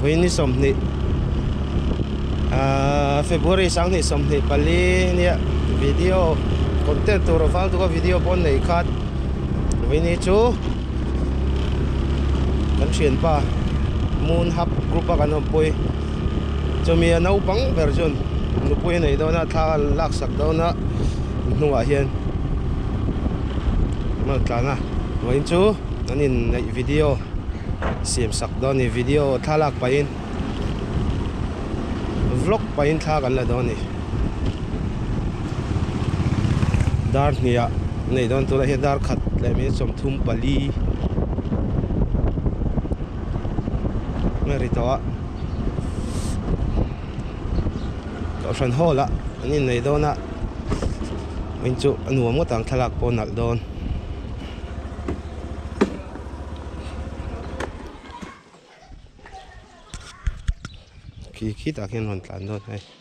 Vawini sawmhnih ah, February sanghnih sawmhnih pali nia video content tur vang tuka video pawn nei khat Vawini chu kan thianpa moon hub group a kan awmpui Chumi a naupang ber chuan nupui a neih dawn a, thla an lak sak dawn a, an hnungah hian Ronald tlan a vawiin chu an inneih video siam sak dawn a ni, video thlalak pahin vlog pahin thla kan la dawn a ni. Dar hniha a nei dawn tuna hian darkhat leh minute sawmthum pali. Nge ri tawh a Tawh hran hawl a An in nei dawn a Min chu a nuam ngawt ang thlalak pawh a nalh dawn khi khi tah khian a rawn tlan dawn a ni.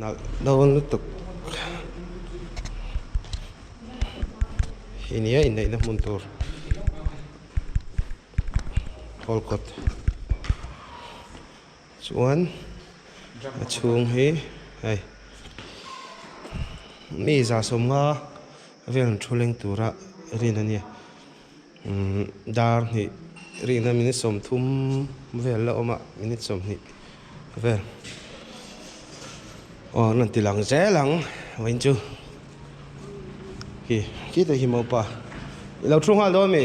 Nalh do lutuk hi nia inneihna hmun tur hawl kawt chuan a chhung hi hei mi za sawmnga vel thu leng tura rin ania. Dar hnih rihna minute sawmthum vel la awm a, minute sawmhnih vel. Aw an rawn ti lang zel ang vawiin chu khi khitah hi mopa i lo thu nghal dawn a mi?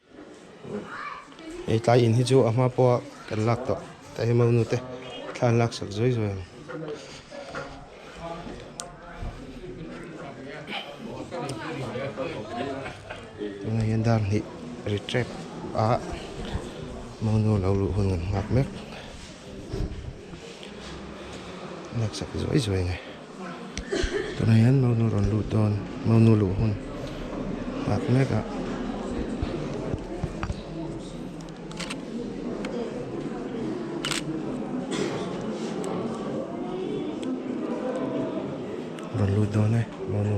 Hei tlai in hi chu a hma pawha kan lak tawh ta hi mo nu te thla an lak sak zuai zuai ang. Tunah hian dar hnih ri trek a mo nu lo luh hun nghat nghak mek lak sak zuai zuai ang e. Tunah hian Mau Nu rawn lut dawn. Mau Nu luh hun nghak mek a. Rawn lut dawn e Mau Nu.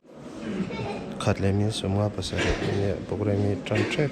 Khat leh min sum nga pasarih nia program hi tan tep.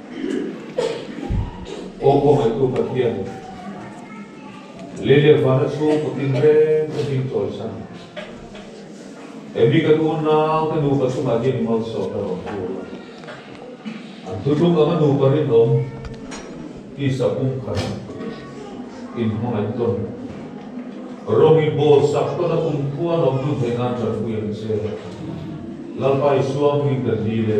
Awkaw ngaihtu Pathian, lei leh van a chhung kut in reng ka hming chawlhsan. Emi kan unnau te nu pathum ah hian i malsawm na rawh thu a. An thu tluk anga nupa rinawm tisa pum khan in hmangaih tawn. Rawng i bawl sak tawn a kumkhua lawmtu hmeh nan ṭanpui ang che. Lalpa Isua hming kan ni le.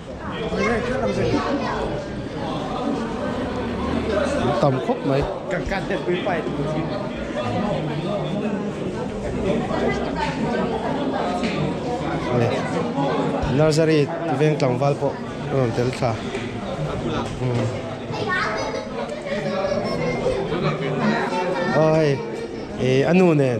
An tam khawp mai. Nursery veng tlangval pawh a rawn tel thla. Aw hei, a nu nen.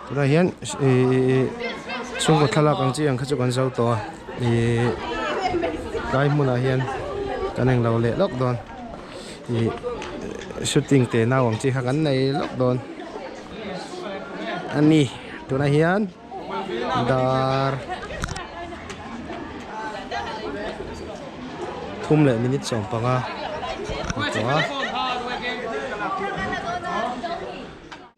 Tunah hian ih chhungkaw thlalak ang chi ang kha chu kan zo tawh a, ih tlai hmunah hian kan eng lo leh lawk dawn, ih shooting te nau ang chi kha kan nei lawk dawn a ni. Tunah hian dar thum leh minute sawm panga a ni tawh a.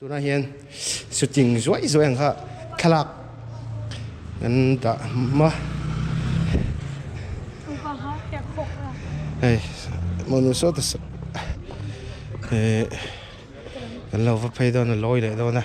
Tunah hian shooting zuai zuai ang kha thlalak kan dah hma. Hei hmuh nuh sawta sawt kan lo va phei dawn a lawi leh dawn a.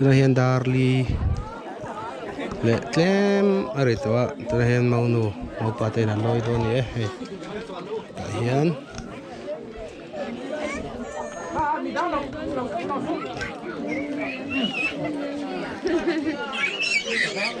Tunah hian Darli leh tlem a ri tawh a, tunah hian Maunu mopa te in an lawi dawn a ni e, hei tah hian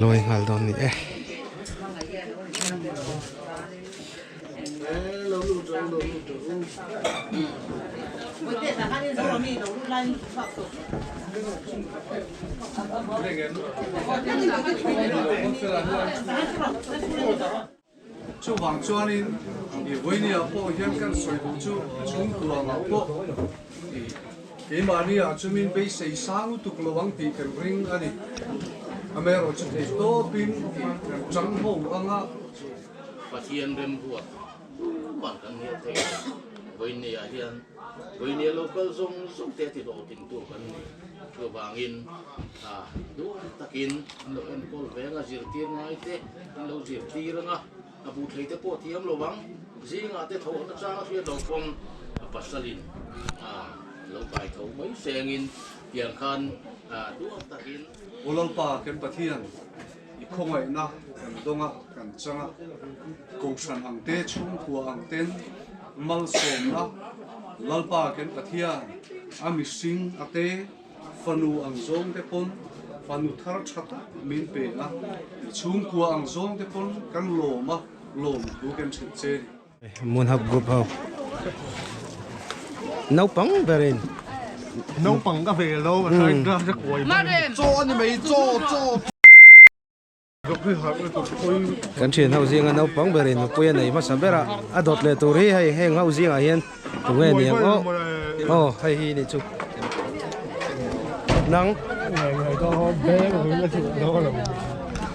lawi nghal dawn a ni e. Chuvang chuanin i Voinia pawh hian kan sawi duh chu a chhung tuam ang pawh i keimahni ah chumin beisei sang lutuk lo ang tih kan ring a ni. Amerawh chu theihtawpin i kan changho ang a. Pathian remruat pumah kan hnial thei lo. Vawineia hian Vawineia lo kal zawng zawng te ti hlawh tingtu kan ni. Chuvangin hna duai takin an lo enkawl ve anga zirtir ngai te an lo zirtir anga a bu thei te pawh thiam lo ang. Zingah te tho an achang a hriat lo khawm. A pasalin hna lo kai tho mai sengin tiang khan hna duai takin. Awlalpa, kan Pathian, I khawngaihna kan dawng a, kan chang a, kohhran ang te, chhungkhua ang ten malsawmna, Lalpa Ken Pathian a mihring a te, fanu ang zawng te pawn fanu thar tha tak min peng a, chhungkhua ang zawng te pawn kan lawm a, lawm thu kan ṭhen che. Moon Hub Group ho naupang berin naupang ka ve lo a thlai ka ka kuai ba cho ani mai cho cho kan thian ho zing a naupang berin nupui a nei hmasa bera a dawt leh tur hi hei heng ho zing ah hian tu nge ni ang aw aw hei hi ni chu nang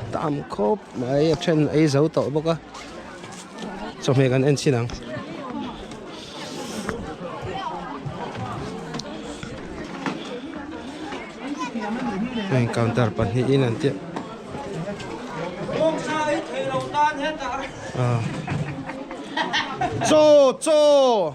a tam khawp mai a then a ei zo tawh bawk a chawhmeh kan en chin ang heng counter pahnih in an tih a chaw chaw.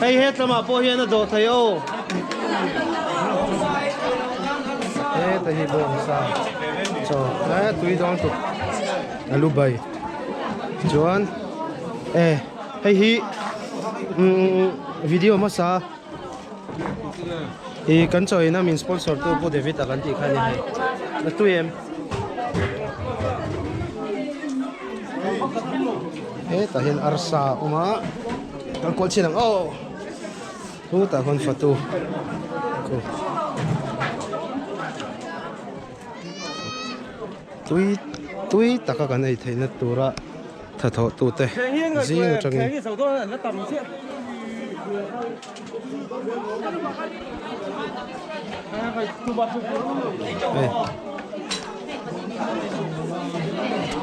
Hei he tlamah pawh hian a dawh thei aw. Heta hi bo ang sa chaw tlai a tui dawn tuk a lu bai chuan e hei hi video hmasa. I kan chaw ina min sponsor tu Pu David a kan tih kha ania hei. A tui em? Hetah hian arsa a awm a, kan kual chhin ang aw. Hutah khawn fatu khu. Tui tui taka kan ei theihna tura. Tha thawhtute zing atangin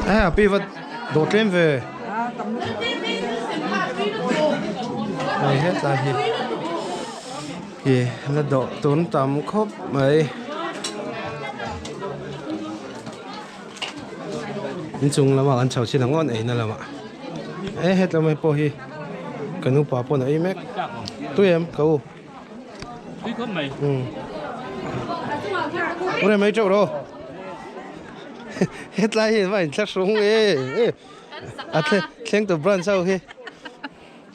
Aa a piva dawh tlem ve. Hei hetlai hi i la dawh tun tam khawp mai. Inchung lamah kan chho chin ang aw eina lamah e hetlama pawh hi ka nupa pawn a ei mek tui em ka u tui khawp mai umm u rem ei teuh ro hetlai hi mahni thla hrung e a thleng tawp branch ho hi.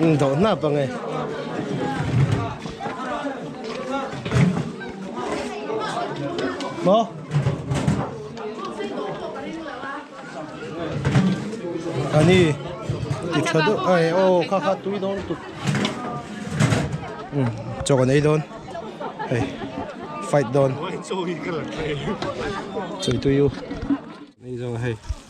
Umm doh hnap ange. Maw? Ani ti tha deuh ai aw kha kha tui dawn lutuk. Umm chaw kan ei dawn. Hei fight dawn. Chawi tui u. Nei zawng a hei.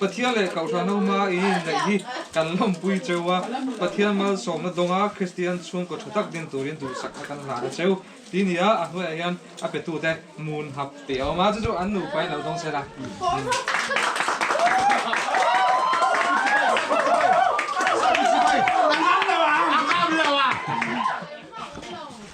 Pathian leh Kohhran ho hmaa in inneih hi kan lawmpui cheu a, Pathian malsawmna dawnga Kristian chhungkaw tha tak ding turin duhsak a kan hlan a cheu, tih ni a, a hnuaiah hian a petute mun hap teh a awm a, chu chu an nupa in lo dawng sel a.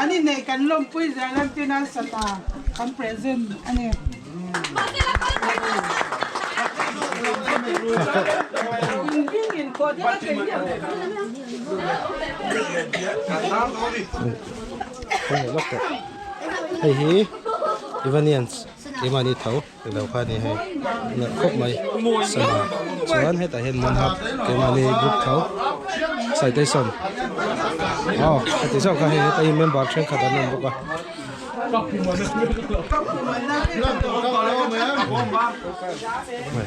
An i neih kan lawmpui zia lam pin a sat a, kan present a ni. Hei hi Evanians keimah a ni tho. Lo kha ni hei na khawp mai sana chuan hetah hian man hap kema ni group tho citation aw heti zawk kha hei heta in member thenkhat an awm bawk a Hoi.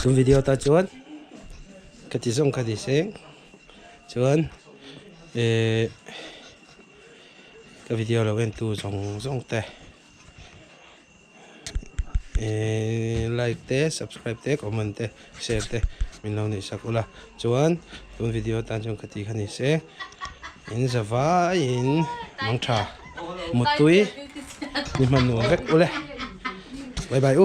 Chu video ta chuan ka ti zawng kha ni se chuan eh ka video lo en tu zawng zawng te eh like te subscribe te comment te share te min lo nei sak ula. Chuan tun video tan chuan ka tih kha ni se in za vaiin mangtha mutui ni hman nuam vek ule bye bye u.